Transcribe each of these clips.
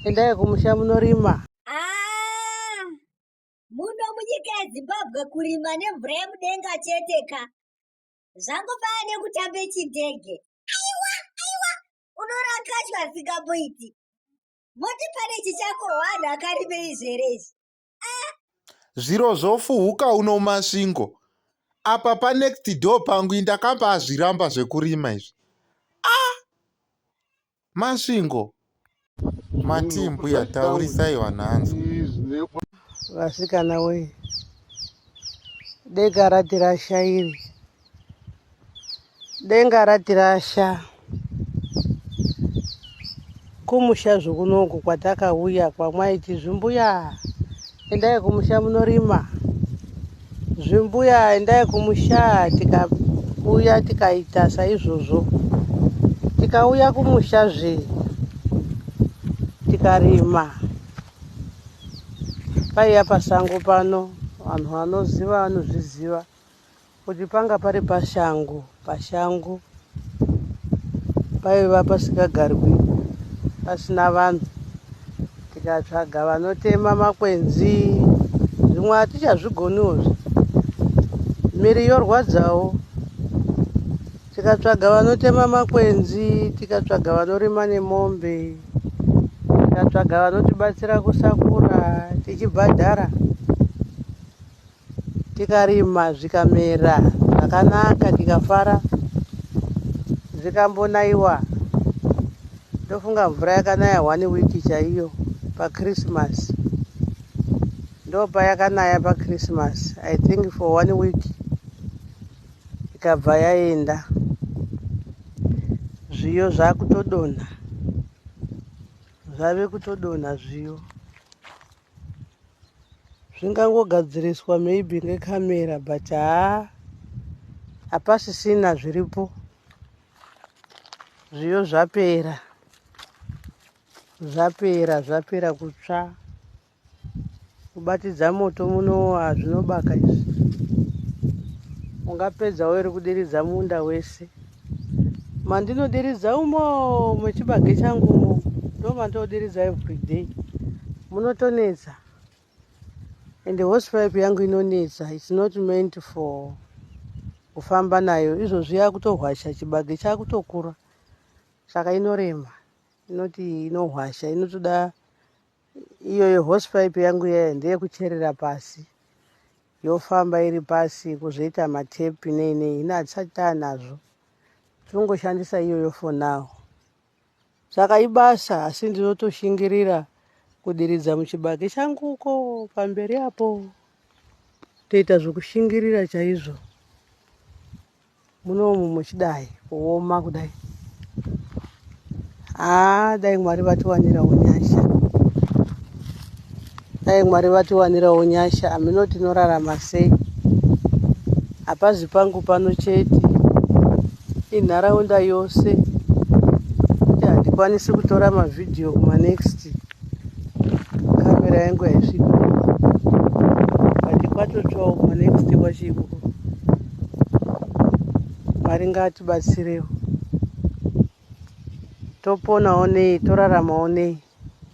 endai kumusha munorima ah, muno munyika yezimbabwe kurima nemvura yemudenga chete ka zvangofana nekutambe chindege aiwa aiwa unorakachwa asingamboiti moti pane chichako wanhu akarime izvere izvi zviro zvofuhuka uno masvingo apa panext door pangu indakamba azviramba zvekurima izvi ah! masvingo matimbu yataurisai vanhu hanzi vasikana wei deka rati rashairi denga ratirasha kumusha zvokunoku kwatakauya kwamwaiti zvimbuya endai kumusha munorima zvimbuya endai kumusha tikauya tikaita saizvozvo tikauya kumusha zve tikarima paiya pasango pano vanhu vanoziva vanozviziva kuti panga pari pashangu pashangu paiva pasikagarwi pasina vanhu tikatsvaga vanotema makwenzi zvimwe hatichazvigoniwo zve miri yorwadzawo tikatsvaga vanotema makwenzi tikatsvaga vanorima nemombe tikatsvaga vanotibatsira kusakura tichibhadhara Tikarima zvikamera zvakanaka tikafara zvikambonaiwa ndofunga mvura yakanaya one week chaiyo pachristmas ndopayakanaya pachristmas i think for one week ikabva yaenda zviyo zvakutodonha zvave kutodonha zviyo zvingangogadziriswa maybe ngecamera but haa hapasisina zviripo zviyo zvapera zvapera zvapera kutsva kubatidza moto munowa zvinobaka izvi ungapedzawo iri kudiridza munda wese mandinodiridza umo mechibage changu umo ndomandodiridza everyday munotonetsa and horse pipe yangu inonetsa its not meant for kufamba nayo izvozvi yakutohwasha chibage chakutokura saka inorema inoti inohwasha inotoda Iyo yehosipaipi yangu yaya ndeyekucherera pasi yofamba iri pasi kuzoita matepi nei nei hino hatisati taanazvo tirongoshandisa iyoyo for now saka ibasa asi ndinotoshingirira kudiridza muchibage changu uko pamberi apo toita zvekushingirira chaizvo munomu muchidai kuoma kudai haa dai mwari vatiwanirawo nyasha dai mwari vatiwanirawo nyasha amino tinorarama sei hapazi pangu pano chete inharaunda yose kuti handikwanisi kutora mavhidhiyo kumanext kamera yangu haisviki kwatotsvawo manext kwachiko mwari ngatibatsirewo toponawo nei toraramawo nei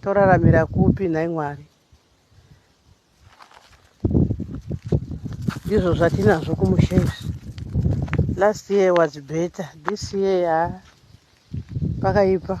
toraramira kupi nhai mwari ndizvo zvatinazvo kumusha izvi last year was better this year pakaipa